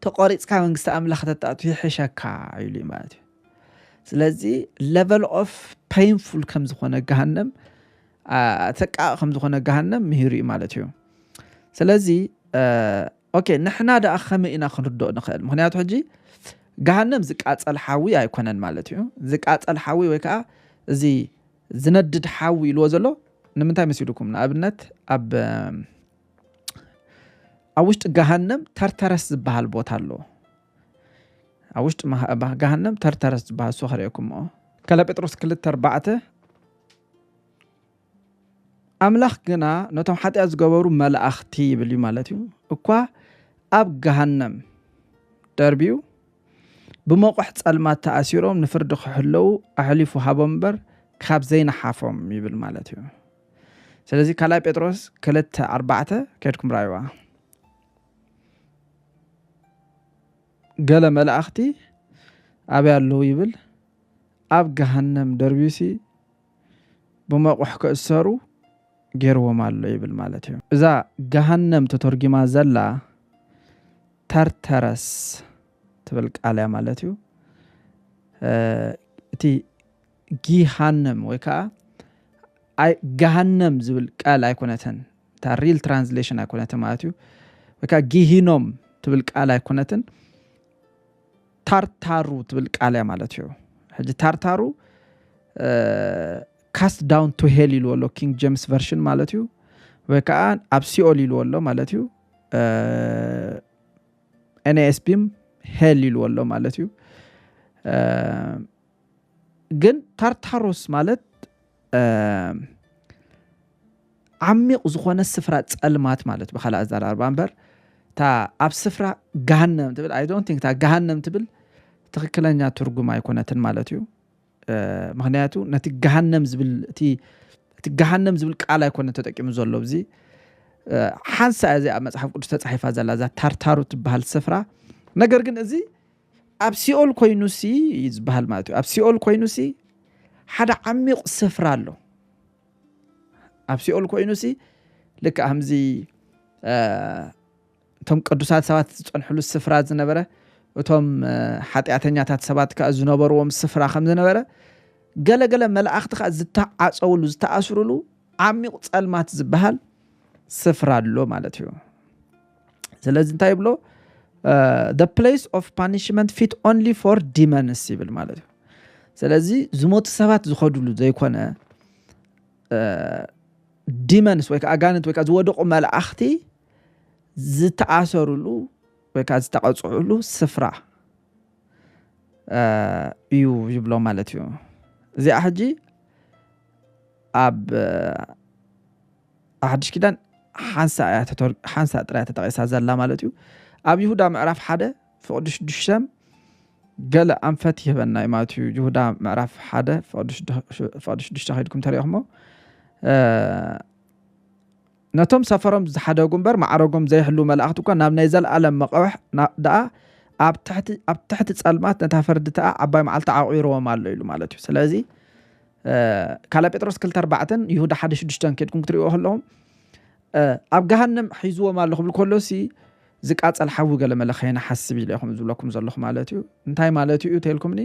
A: ተቆሪፅካ መንግስቲ ኣምላኽ ተጣቱ ይሕሸካ ኢሉ እዩ ማለት እዩ ስለዚ ለቨል ኦፍ ፔንፉል ከም ዝኾነ ገሃነም ተቃ ከም ዝኾነ ገሃነም ምሂሩ እዩ ማለት እዩ ስለዚ ኦኬ ንሕና ደኣ ከመይ ኢና ክንርድኦ ንኽእል ምክንያቱ ሕጂ ገሃነም ዝቃፀል ሓዊ ኣይኮነን ማለት እዩ ዝቃፀል ሓዊ ወይ ከዓ እዚ ዝነድድ ሓዊ ኢልዎ ዘሎ ንምንታይ መሲልኩም ንኣብነት ኣብ ኣብ ውሽጢ ገሃነም ተርተረስ ዝበሃል ቦታ ኣሎ ኣብ ውሽጢ ገሃነም ተርተረስ ዝበሃል እሱ ከርእየኩምኦ ከለ ጴጥሮስ ክልተ ኣርባዕተ ኣምላኽ ግና ነቶም ሓጢኣት ዝገበሩ መላእኽቲ ይብል እዩ ማለት እዩ እኳ ኣብ ገሃነም ደርብዩ ብመቑሕ ጸልማት ተኣሲሮም ንፍርዲ ክሕለዉ ኣሕሊፉ ሃቦም እምበር ካብ ዘይነሓፎም ይብል ማለት እዩ ስለዚ ካልኣይ ጴጥሮስ ክልተ ኣርባዕተ ከድኩም ራይዋ ገለ መላእኽቲ ኣበይ ኣለዉ ይብል ኣብ ገሃነም ደርቢሲ ብመቑሕ ክእሰሩ ገይርዎም ኣሎ ይብል ማለት እዩ እዛ ገሃነም ተተርጊማ ዘላ ተርተረስ ትብል ቃል እያ ማለት እዩ እቲ ጊሃነም ወይ ከዓ ገሃነም ዝብል ቃል ኣይኮነትን እታ ሪል ትራንስሌሽን ኣይኮነትን ማለት እዩ ወይ ከዓ ጊሂኖም ትብል ቃል ኣይኮነትን ታርታሩ ትብል ቃል እያ ማለት እዩ ሕጂ ታርታሩ ካስት ዳውን ቱ ሄል ኢልዎ ኣሎ ኪንግ ጀምስ ቨርሽን ማለት እዩ ወይ ከዓ ኣብ ሲኦል ኢልዎ ኣሎ ማለት እዩ ኤንኤስቢም ሄል ኢልዎ ኣሎ ማለት እዩ ግን ታርታሮስ ማለት ዓሚቕ ዝኾነ ስፍራ ጸልማት ማለት ብካልእ ኣዘራርባ እምበር እታ ኣብ ስፍራ ገሃነም ትብል ኣይ ዶንት ቲንክ እታ ገሃነም ትብል ትክክለኛ ትርጉም ኣይኮነትን ማለት እዩ ምክንያቱ ነቲ ገሃነም ዝብል እቲ እቲ ገሃነም ዝብል ቃል ኣይኮነ ተጠቂሙ ዘሎ እዚ ሓንሳ እዚ ኣብ መፅሓፍ ቅዱስ ተፃሒፋ ዘላ እዛ ታርታሩ ትበሃል ስፍራ ነገር ግን እዚ ኣብ ሲኦል ኮይኑሲ እዩ ዝበሃል ማለት እዩ ኣብ ሲኦል ኮይኑሲ ሓደ ዓሚቕ ስፍራ ኣሎ ኣብ ሲኦል ኮይኑሲ ልክ ከምዚ እቶም ቅዱሳት ሰባት ዝፀንሕሉ ስፍራ ዝነበረ እቶም ሓጢኣተኛታት ሰባት ከዓ ዝነበርዎም ስፍራ ከም ዝነበረ ገለገለ መላእኽቲ ከዓ ዝተዓፀውሉ ዝተኣስሩሉ ዓሚቕ ፀልማት ዝበሃል ስፍራ ኣሎ ማለት እዩ ስለዚ እንታይ ይብሎ ፕሌስ ኦፍ ፓኒሽመንት ፊት ኦንሊ ፎር ዲመንስ ይብል ማለት እዩ ስለዚ ዝሞቱ ሰባት ዝኸድሉ ዘይኮነ ዲመንስ ወይ ከዓ ኣጋንንት ወይ ከዓ ዝወደቑ መላእኽቲ ዝተኣሰርሉ ወይ ከዓ ዝተቐፅዕሉ ስፍራ እዩ ይብሎ ማለት እዩ እዚኣ ሕጂ ኣብ ኣብ ሓድሽ ኪዳን ሓንሳእ እያ ሓንሳእ ጥራይ ተጠቒሳ ዘላ ማለት እዩ ኣብ ይሁዳ ምዕራፍ ሓደ ፍቕዲ ሽዱሽተ ገለ ኣንፈት ይህበና እዩ ማለት እዩ ይሁዳ ምዕራፍ ሓደ ፍቕዲ ሽዱሽተ ከይድኩም ተሪእኹሞ ነቶም ሰፈሮም ዝሓደጉ እምበር ማዕረጎም ዘይሕልው መላእኽቲ እኳ ናብ ናይ ዘለኣለም መቐብሕ ደኣ ኣብ ትሕቲ ጸልማት ነታ ፈርዲ ተኣ ዓባይ መዓልቲ ዓቑርዎም ኣሎ ኢሉ ማለት እዩ ስለዚ ካልኣይ ጴጥሮስ ክልተ ኣርባዕተን ይሁዳ ሓደ ሽዱሽተን ኬድኩም ክትሪእዎ ከለኹም ኣብ ገሃንም ሒዝዎም ኣሎ ክብል ከሎሲ ዝቃፀል ሓዊ ገለ መለ ከይንሓስብ ኢለ ከም ዝብለኩም ዘለኹ ማለት እዩ እንታይ ማለት እዩ ተልኩምኒ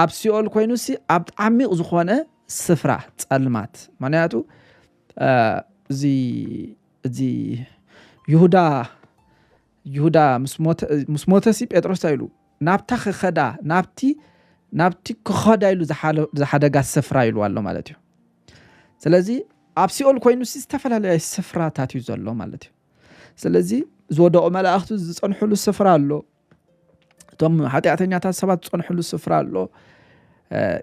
A: ኣብ ሲኦል ኮይኑሲ ኣብ ዓሚቕ ዝኾነ ስፍራ ፀልማት ምክንያቱ እዚ እዚ ይሁዳ ይሁዳ ምስ ሞተሲ ጴጥሮስ ኢሉ ናብታ ክኸዳ ናብቲ ናብቲ ክኸዳ ኢሉ ዝሓደጋ ስፍራ ኢልዋ ኣሎ ማለት እዩ ስለዚ ኣብ ሲኦል ኮይኑ ዝተፈላለየ ስፍራታት እዩ ዘሎ ማለት እዩ ስለዚ ዝወደቑ መላእኽቱ ዝፀንሕሉ ስፍራ ኣሎ እቶም ሓጢኣተኛታት ሰባት ዝፀንሕሉ ስፍራ ኣሎ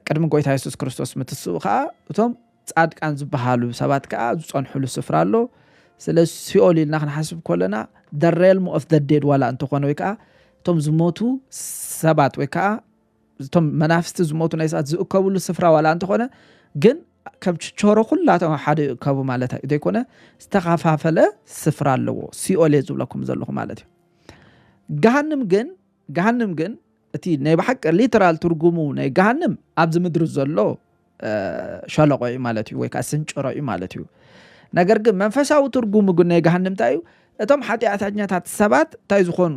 A: ቅድሚ ጎይታ የሱስ ክርስቶስ ምትስኡ ከዓ እቶም ጻድቃን ዝበሃሉ ሰባት ከኣ ዝጸንሑሉ ስፍራ ኣሎ። ስለዚ ሲኦል ኢልና ክንሓስብ ከሎና the realm of the dead ዋላ እንተኾነ ወይ ከኣ እቶም ዝሞቱ ሰባት ወይ ከኣ እቶም መናፍስቲ ዝሞቱ ናይ ሰባት ዝእከብሉ ስፍራ ዋላ እንተኾነ ግን ከም ችቾሮ ኩላቶም ኣብ ሓደ ይእከቡ ማለት ዘይኮነ ዝተኸፋፈለ ስፍራ ኣለዎ ሲኦል እየ ዝብለኩም ዘለኹ ማለት እዩ ገሃንም ግን ገሃንም ግን እቲ ናይ ብሓቂ ሊተራል ትርጉሙ ናይ ገሃንም ኣብዚ ምድሪ ዘሎ ሸለቆ እዩ ማለት እዩ ወይ ከዓ ስንጭሮ እዩ ማለት እዩ ነገር ግን መንፈሳዊ ትርጉሙ ግን ናይ ገሃንም እንታይ እዩ እቶም ሓጢኣተኛታት ሰባት እንታይ ዝኾኑ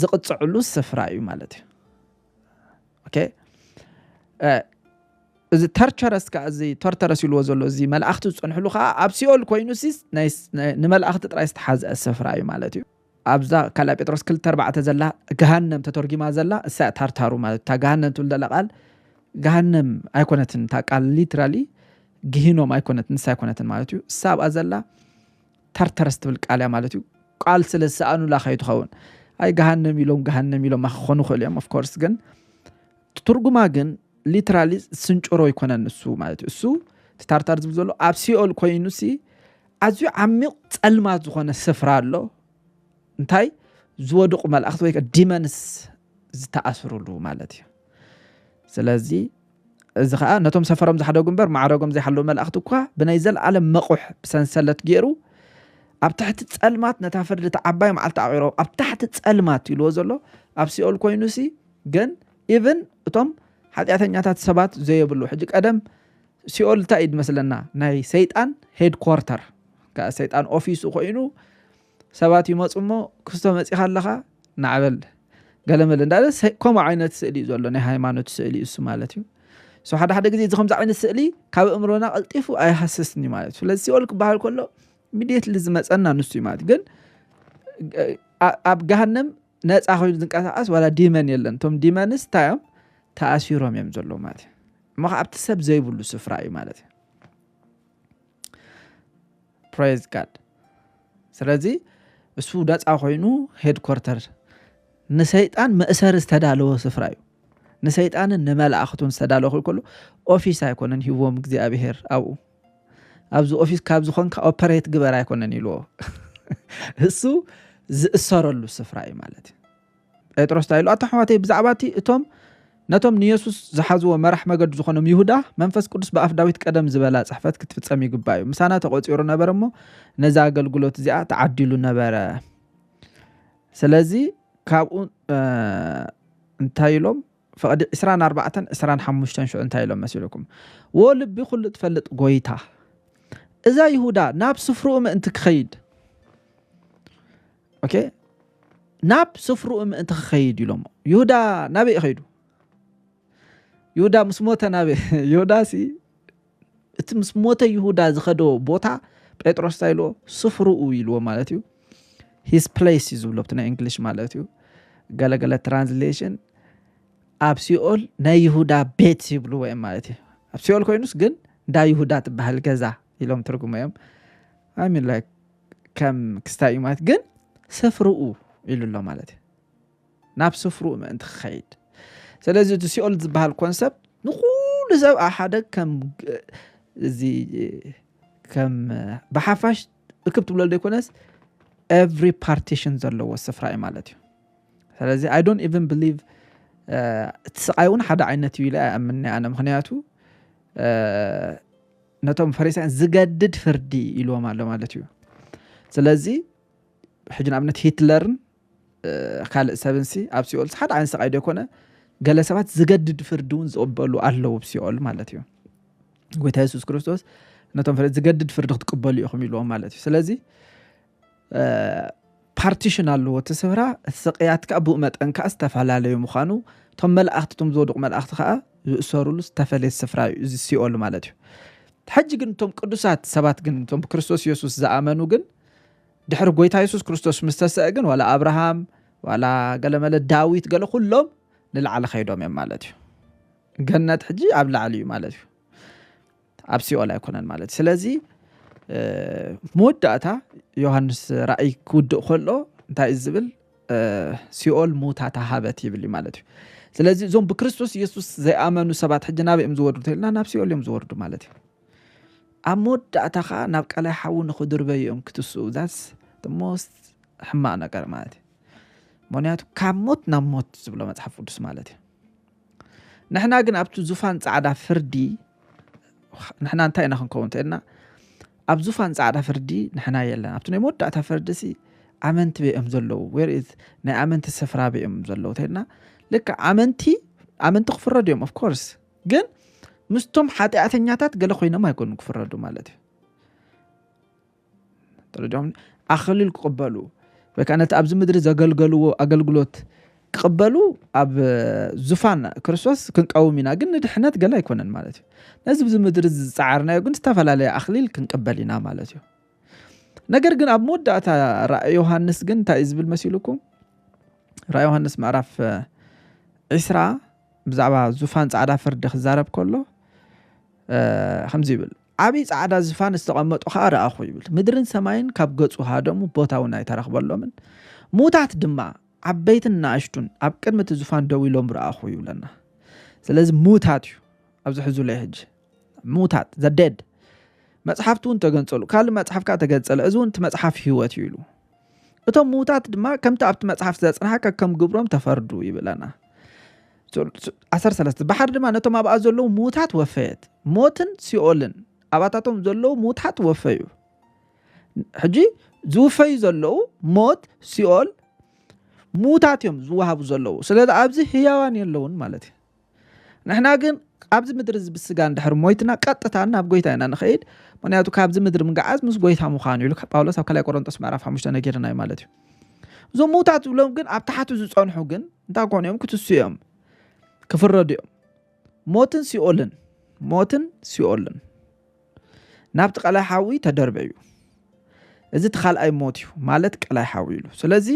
A: ዝቕፅዕሉ ስፍራ እዩ ማለት እዩ ኦኬ እዚ ተርቸረስ ከዓ እዚ ተርተረስ ኢልዎ ዘሎ እዚ መላእኽቲ ዝፀንሕሉ ከዓ ኣብ ሲኦል ኮይኑ ንመላእኽቲ ጥራይ ዝተሓዝአ ስፍራ እዩ ማለት እዩ ኣብዛ ካልኣ ጴጥሮስ ክልተ ኣርባዕተ ዘላ ገሃነም ተተርጒማ ዘላ እሳ እያ ታርታሩ ማለት እታ ገሃነም ትብል ዘላ ቃል ገሃነም ኣይኮነትን እታ ቃል ሊትራሊ ግሂኖም ኣይኮነት ንሳ ኣይኮነትን ማለት እዩ እሳ ኣብኣ ዘላ ታርተረስ ትብል ቃል እያ ማለት እዩ ቃል ስለ ዝሰኣኑላ ከዩ ትኸውን ኣይ ገሃነም ኢሎም ገሃነም ኢሎማ ክኾኑ ይኽእሉ እዮም ኦፍኮርስ ግን ትርጉማ ግን ሊትራሊ ስንጭሮ ይኮነን ንሱ ማለት እዩ እሱ ትታርታር ዝብል ዘሎ ኣብ ሲኦል ኮይኑ ሲ ኣዝዩ ዓሚቕ ጸልማት ዝኾነ ስፍራ ኣሎ እንታይ ዝወድቁ መላእኽቲ ወይ ዲመንስ ዝተኣስሩሉ ማለት እዩ ስለዚ እዚ ከዓ ነቶም ሰፈሮም ዝሓደጉ እምበር ማዕረጎም ዘይሓለዉ መላእኽቲ እኳ ብናይ ዘለኣለም መቑሕ ብሰንሰለት ገይሩ ኣብ ትሕቲ ጸልማት ነታ ፍርዲ እቲ ዓባይ መዓልቲ ኣቂሮ ኣብ ታሕቲ ጸልማት ኢልዎ ዘሎ ኣብ ሲኦል ኮይኑ ሲ ግን ኢቭን እቶም ሓጢኣተኛታት ሰባት ዘየብሉ ሕጂ ቀደም ሲኦል እንታይ እዩ ዝመስለና ናይ ሰይጣን ሄድ ኮርተር ከ ሰይጣን ኦፊሱ ኮይኑ ሰባት ይመፁ እሞ ክስቶ መፂኻ ኣለኻ ናዕበል ገለመለ እንዳለ ከምኡ ዓይነት ስእሊ እዩ ዘሎ ናይ ሃይማኖት ስእሊ እሱ ማለት እዩ ሶ ሓደ ሓደ ግዜ እዚ ከምዚ ዓይነት ስእሊ ካብ እምሮና ቀልጢፉ ኣይሃስስን እዩ ማለት እዩ ስለዚ ሲኦል ክበሃል ከሎ ሚድየትሊ ዝመፀና ንሱ እዩ ማለት ግን ኣብ ገሃነም ነጻ ኮይኑ ዝንቀሳቀስ ዋላ ዲመን የለን እቶም ዲመንስ እንታይ እዮም ተኣሲሮም እዮም ዘለዉ ማለት እዩ እሞ ከዓ ኣብቲ ሰብ ዘይብሉ ስፍራ እዩ ማለት እዩ ፕሬዝ ጋድ ስለዚ እሱ ነፃ ኮይኑ ሄድኮርተር ንሰይጣን መእሰሪ ዝተዳለወ ስፍራ እዩ ንሰይጣንን ንመላእኽቱን ዝተዳለወ ክልከሉ ኦፊስ ኣይኮነን ሂዎም እግዚኣብሄር ኣብኡ ኣብዚ ኦፊስ ካብ ዝኾንካ ኦፐሬት ግበር ኣይኮነን ኢልዎ እሱ ዝእሰረሉ ስፍራ እዩ ማለት እዩ ጴጥሮስ እንታይ ኢሉ ኣቶ ኣሕዋተይ ብዛዕባ እቲ እቶም ነቶም ንየሱስ ዝሓዝዎ መራሕ መገዱ ዝኾኖም ይሁዳ መንፈስ ቅዱስ ብኣፍ ዳዊት ቀደም ዝበላ ጽሕፈት ክትፍጸም ይግባእ እዩ ምሳና ተቖጺሩ ነበር እሞ ነዚ ኣገልግሎት እዚኣ ተዓዲሉ ነበረ ስለዚ ካብኡ እንታይ ኢሎም ፍቕዲ ዕስራን ኣርባዕተን ዕስራን ሓሙሽተን ሽዑ እንታይ ኢሎም መሲሉኩም? ዎ ልቢ ኩሉ እትፈልጥ ጎይታ እዛ ይሁዳ ናብ ስፍርኡ ምእንቲ ክኸይድ ኦኬ ናብ ስፍርኡ ምእንቲ ክኸይድ ኢሎሞ ይሁዳ ናበይ ኸይዱ ይሁዳ ምስ ሞተ ናበይ ይሁዳሲ እቲ ምስ ሞተ ይሁዳ ዝኸዶ ቦታ ጴጥሮስ እንታይ ኢልዎ ስፍርኡ ኢልዎ ማለት እዩ ሂስ ፕሌስ እዩ ዝብሎ ብቲ ናይ እንግሊሽ ማለት እዩ ገለገለ ትራንስሌሽን ኣብ ሲኦል ናይ ይሁዳ ቤት ይብልዎ እዮም ማለት እዩ ኣብ ሲኦል ኮይኑስ ግን እንዳ ይሁዳ ትበሃል ገዛ ኢሎም ትርጉሞ እዮም ሚን ከም ክስታይ እዩ ማለት ግን ስፍርኡ ኢሉ ኣሎ ማለት እዩ ናብ ስፍርኡ ምእንቲ ክኸይድ ስለዚ እቲ ሲኦል ዝበሃል ኮንሰፕት ንኩሉ ሰብ ኣብ ሓደ ከም እዚ ከም ብሓፋሽ እክብ ትብለሉ ዘይኮነስ ኤቭሪ ፓርቲሽን ዘለዎ ስፍራ እዩ ማለት እዩ ስለዚ ኣይ ዶንት ኢቨን ብሊቭ እቲ ስቃይ እውን ሓደ ዓይነት እዩ ኢለ ኣይኣምንኒ ኣነ ምክንያቱ ነቶም ፈሪሳያን ዝገድድ ፍርዲ ኢልዎም ኣሎ ማለት እዩ ስለዚ ሕጂ ንኣብነት ሂትለርን ካልእ ሰብንሲ ኣብ ሲኦልሲ ሓደ ዓይነት ስቃይ ዶ ይኮነ ገለ ሰባት ዝገድድ ፍርዲ እውን ዝቕበሉ ኣለዉ ብ ሲኦል ማለት እዩ ጎይታ የሱስ ክርስቶስ ነቶም ፍረ ዝገድድ ፍርዲ ክትቅበሉ ኢኹም ኢልዎም ማለት እዩ ስለዚ ፓርቲሽን ኣለዎ እቲ ስፍራ እቲ ስቅያት ከዓ ብኡ መጠን ከዓ ዝተፈላለዩ ምዃኑ እቶም መላእኽቲ እቶም ዝወድቑ መላእኽቲ ከዓ ዝእሰርሉ ዝተፈለየ ስፍራ እዩ እዚ ሲኦል ማለት እዩ ሕጂ ግን እቶም ቅዱሳት ሰባት ግን እቶም ብክርስቶስ የሱስ ዝኣመኑ ግን ድሕሪ ጎይታ የሱስ ክርስቶስ ምስ ተሰአ ግን ዋላ ኣብርሃም ዋላ ገለመለ ዳዊት ገለ ኩሎም ንላዕሊ ከይዶም እዮም ማለት እዩ ገነት ሕጂ ኣብ ላዕሊ እዩ ማለት እዩ ኣብ ሲኦል ኣይኮነን ማለት እዩ ስለዚ መወዳእታ ዮሃንስ ራእይ ክውድእ ከሎ እንታይ እዩ ዝብል ሲኦል ሙታ ተሃበት ይብል እዩ ማለት እዩ ስለዚ እዞም ብክርስቶስ የሱስ ዘይኣመኑ ሰባት ሕጂ ናበይ እዮም ዝወርዱ ተልና ናብ ሲኦል እዮም ዝወርዱ ማለት እዩ ኣብ መወዳእታ ከኣ ናብ ቀላይ ሓዊ ንክድርበዩ እዮም ክትስኡ that's the most ሕማቅ ነገር ማለት እዩ ምክንያቱ ካብ ሞት ናብ ሞት ዝብሎ መጽሓፍ ቅዱስ ማለት እዩ ንሕና ግን ኣብቲ ዙፋን ጻዕዳ ፍርዲ ንሕና እንታይ ኢና ክንከውን እንተኢልና ኣብ ዙፋን ጻዕዳ ፍርዲ ንሕና የለን ኣብቲ ናይ መወዳእታ ፍርዲ ሲ ኣመንቲ በኦም ዘለዉ ወር ናይ ኣመንቲ ስፍራ በኦም ዘለዉ እንተኢልና ልክዕ ኣመንቲ ኣመንቲ ክፍረዱ እዮም ኦፍኮርስ ግን ምስቶም ሓጢኣተኛታት ገለ ኮይኖም ኣይኮኑ ክፍረዱ ማለት እዩ ደረጃም ኣኸሊል ክቕበሉ ወይ ከዓ ነቲ ኣብዚ ምድሪ ዘገልገልዎ ኣገልግሎት ክቕበሉ ኣብ ዙፋን ክርስቶስ ክንቀውም ኢና ግን ንድሕነት ገለ ኣይኮነን ማለት እዩ ነዚ ብዚ ምድሪ ዝፀዓርናዮ ግን ዝተፈላለየ ኣኽሊል ክንቅበል ኢና ማለት እዩ ነገር ግን ኣብ መወዳእታ ራእይ ዮሃንስ ግን እንታይ እዩ ዝብል መሲሉኩም ራእይ ዮሃንስ ምዕራፍ ዕስራ ብዛዕባ ዙፋን ጻዕዳ ፍርዲ ክዛረብ ከሎ ከምዚ ይብል ዓብዪ ጻዕዳ ዝፋን ዝተቐመጡ ከዓ ረኣኹ ይብል ምድርን ሰማይን ካብ ገጹ ሃደሙ ቦታ እውን ኣይተረኽበሎምን ሙታት ድማ ዓበይትን ንኣሽቱን ኣብ ቅድሚ እቲ ዝፋን ደው ኢሎም ረኣኹ ይብለና ስለዚ ሙታት እዩ ኣብዚ ሕዙለይ ሕጂ ምዉታት ዘ ደድ መጽሓፍቲ እውን ተገንጸሉ ካልእ መጽሓፍ ከኣ ተገንጸለ እዚ እውን እቲ መጽሓፍ ህይወት እዩ ኢሉ እቶም ምዉታት ድማ ከምቲ ኣብቲ መጽሓፍ ዘጽንሓ ከከም ግብሮም ተፈርዱ ይብለና ዓሰርተ ሰለስተ ባሕሪ ድማ ነቶም ኣብኣ ዘለዉ ምዉታት ወፈየት ሞትን ሲኦልን ኣባታቶም ዘለዉ ምዉታት ወፈዩ ሕጂ ዝውፈዩ ዘለዉ ሞት ሲኦል ምዉታት እዮም ዝወሃቡ ዘለዉ ስለዚ ኣብዚ ህያዋን የለውን ማለት እዩ ንሕና ግን ኣብዚ ምድሪ እዚ ብስጋ እንድሕር ሞይትና ቀጥታ ናብ ጎይታ ኢና ንኸይድ ምክንያቱ ካብዚ ምድሪ ምግዓዝ ምስ ጎይታ ምዃኑ ኢሉ ጳውሎስ ኣብ ካልይ ቆሮንጦስ ምዕራፍ ሓሙሽተ ነገርና እዩ ማለት እዩ እዞም ምውታት ዝብሎም ግን ኣብ ታሕቱ ዝፀንሑ ግን እንታይ ኮኑ እዮም ክትሱ እዮም ክፍረዱ እዮም ሞትን ሲኦልን ሞትን ሲኦልን ናብቲ ቀላይ ሓዊ ተደርበዩ እዚ እቲ ካልኣይ ሞት እዩ ማለት ቀላይ ሓዊ ኢሉ ስለዚ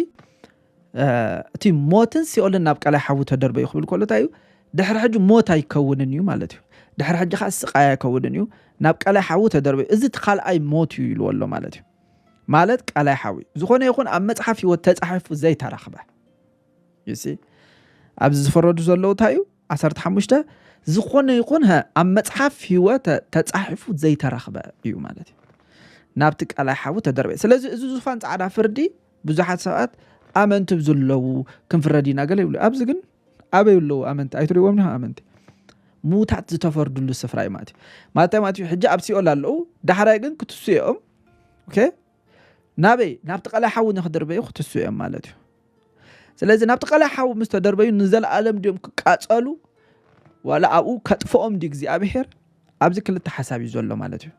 A: እቲ ሞትን ሲኦልን ናብ ቀላይ ሓዊ ተደርበዩ ክብል ከሎ እንታይ እዩ ድሕሪ ሕጂ ሞት ኣይከውንን እዩ ማለት እዩ ድሕሪ ሕጂ ከዓ ስቃይ ኣይከውንን እዩ ናብ ቀላይ ሓዊ ተደርበዩ እዚ እቲ ካልኣይ ሞት እዩ ኢልዎ ኣሎ ማለት እዩ ማለት ቀላይ ሓዊ ዝኾነ ይኹን ኣብ መፅሓፍ ህይወት ተፃሒፉ ዘይተረኽበ ኣብዚ ዝፈረዱ ዘለዉ እንታይ እዩ ዓሰርተ ሓሙሽተ፣ ዝኾነ ይኹን ሀ ኣብ መጽሓፍ ህይወተ ተጻሒፉ ዘይተረኽበ እዩ ማለት እዩ ናብቲ ቃላይ ሓዊ ተደርበ ስለዚ እዚ ዙፋን ጻዕዳ ፍርዲ ብዙሓት ሰባት ኣመንቲ ብዝለዉ ክንፍረድ ኢና ገለ ይብሉ ኣብዚ ግን ኣበይ ኣለዉ ኣመንቲ ኣይትሪዎም ኒ ኣመንቲ ሙታት ዝተፈርድሉ ስፍራ እዩ ማለት እዩ ማለት ማለት እዩ ሕጂ ኣብ ሲኦል ኣለዉ ዳሕራይ ግን ክትስኡ እዮም ኦኬ ናበይ ናብቲ ቀላይ ሓዊ ንክድርበዩ ክትስኡ እዮም ማለት እዩ ስለዚ ናብቲ ቐላይ ሓዊ ምስ ተደርበዩ ንዘለኣለም ድዮም ክቃጸሉ ዋላ ኣብኡ ከጥፍኦም ድዩ እግዚኣብሄር ኣብዚ ክልተ ሓሳብ እዩ ዘሎ ማለት እዩ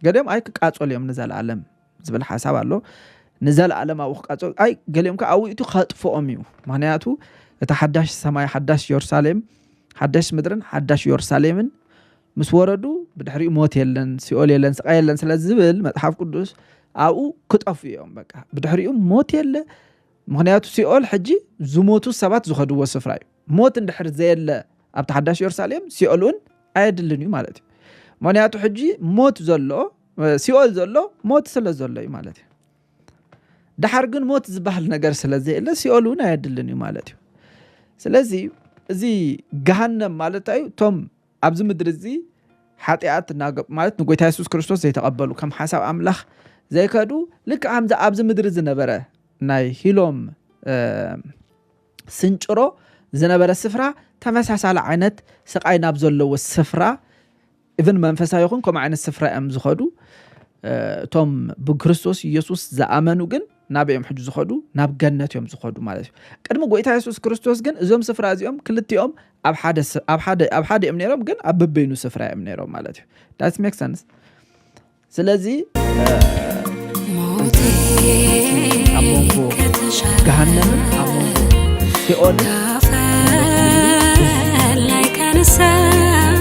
A: ገሊኦም ኣይ ክቃጸሉ እዮም ንዘለኣለም ዝብል ሓሳብ ኣሎ ንዘለኣለም ኣብኡ ክቃጸሉ ኣይ ገሊኦም ከዓ ኣብኡ እቲ ከጥፍኦም እዩ ምክንያቱ እቲ ሓዳሽ ሰማይ ሓዳሽ የሩሳሌም ሓዳሽ ምድርን ሓዳሽ የሩሳሌምን ምስ ወረዱ ብድሕሪኡ ሞት የለን ሲኦል የለን ስቃይ የለን ስለ ዝብል መፅሓፍ ቅዱስ ኣብኡ ክጠፉ እዮም በቃ ብድሕሪኡ ሞት የለ ምክንያቱ ሲኦል ሕጂ ዝሞቱ ሰባት ዝኸድዎ ስፍራ እዩ ሞት እንድሕር ዘየለ ኣብቲ ሓዳሽ የሩሳሌም ሲኦል እውን ኣየድልን እዩ ማለት እዩ ምክንያቱ ሕጂ ሞት ዘሎ ሲኦል ዘሎ ሞት ስለ ዘሎ እዩ ማለት እዩ ድሓር ግን ሞት ዝበሃል ነገር ስለ ዘየለ ሲኦል እውን ኣየድልን እዩ ማለት እዩ ስለዚ እዚ ገሃነም ማለት እዩ እቶም ኣብዚ ምድሪ እዚ ሓጢኣት ማለት ንጎይታ የሱስ ክርስቶስ ዘይተቐበሉ ከም ሓሳብ ኣምላኽ ዘይከዱ ልክ ከምዚ ኣብዚ ምድሪ ዝነበረ ናይ ሂሎም ስንጭሮ ዝነበረ ስፍራ ተመሳሳሊ ዓይነት ስቃይ ናብ ዘለዎ ስፍራ እብን መንፈሳዊ ይኹን ከምኡ ዓይነት ስፍራ እዮም ዝኸዱ እቶም ብክርስቶስ ኢየሱስ ዝኣመኑ ግን ናበይ እዮም ሕጂ ዝኸዱ? ናብ ገነት እዮም ዝኸዱ ማለት እዩ። ቅድሚ ጎይታ የሱስ ክርስቶስ ግን እዞም ስፍራ እዚኦም ክልቲኦም ኣብ ሓደ ኣብ ሓደ ኣብ ሓደ እዮም ነይሮም፣ ግን ኣብ በበይኑ ስፍራ እዮም ነይሮም ማለት እዩ። ዳት ሜክ ሰንስ። ስለዚ ሞቴ ኣብ መንጎ ከተሻለ ገሃነምን ኣብ መንጎ ሲኦልን ካፈር ላይ ካነሳኝ